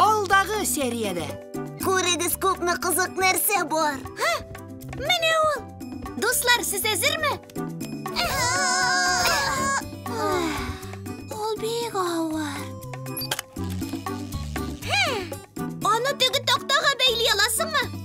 Алдагы сериядә. Күрегез күпме кызык нәрсә бар. Һа! Менә ул. Дуслар, сез әзерме? Ул бик авыр. Аны теге тактага бәйли аласыңмы?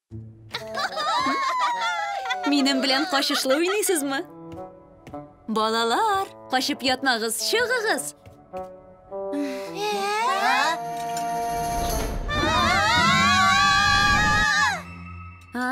Минем белән качышлы уйныйсызмы? Балалар, качып ятмагыз, чыгыгыз. А?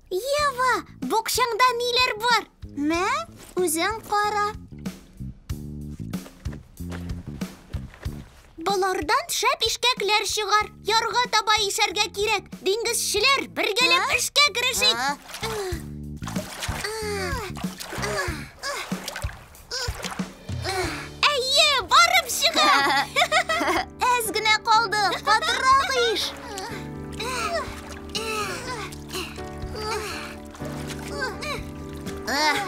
Ева, букшаңда ниләр бар? Мә, үзең кара. Болардан шәп ишкәкләр чыгар. Ярга таба ишәргә кирәк. Диңгезчеләр, бергәләп эшкә керешик. Әйе, барып чыга! Әз генә калды, катырак иш! Эх,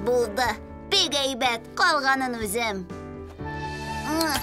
Булды, бик әйбәт, калганын үзем. Эх.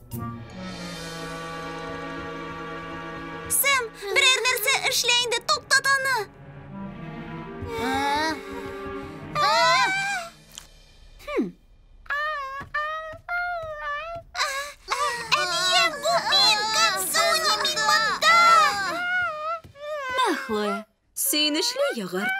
Сэм, берәр нәрсә эшлә инде, туктат аны. Әнием, бу мин, Кансуни, мин монда. Мә, Хлоя, сөенечле йогырт.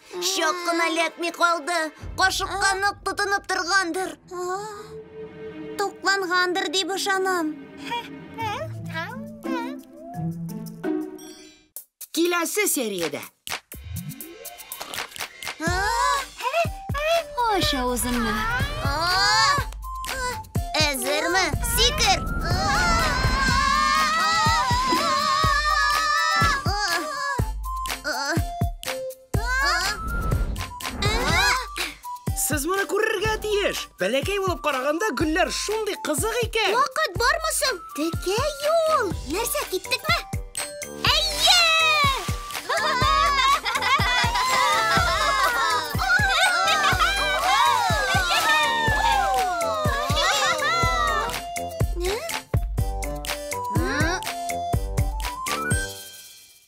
Чак кына эләкми калды. Кашыкка нык тотынып торгандыр. Туклангандыр дип ышанам. Киләсе сериядә. Аш авызыңны. Әзерме? Сикер! Сез моны күрергә тиеш. Бәләкәй булып караганда гөлләр шундый кызык икән. Вакыт бармы соң? Текә юл. Нәрсә, киттекме? Әйе!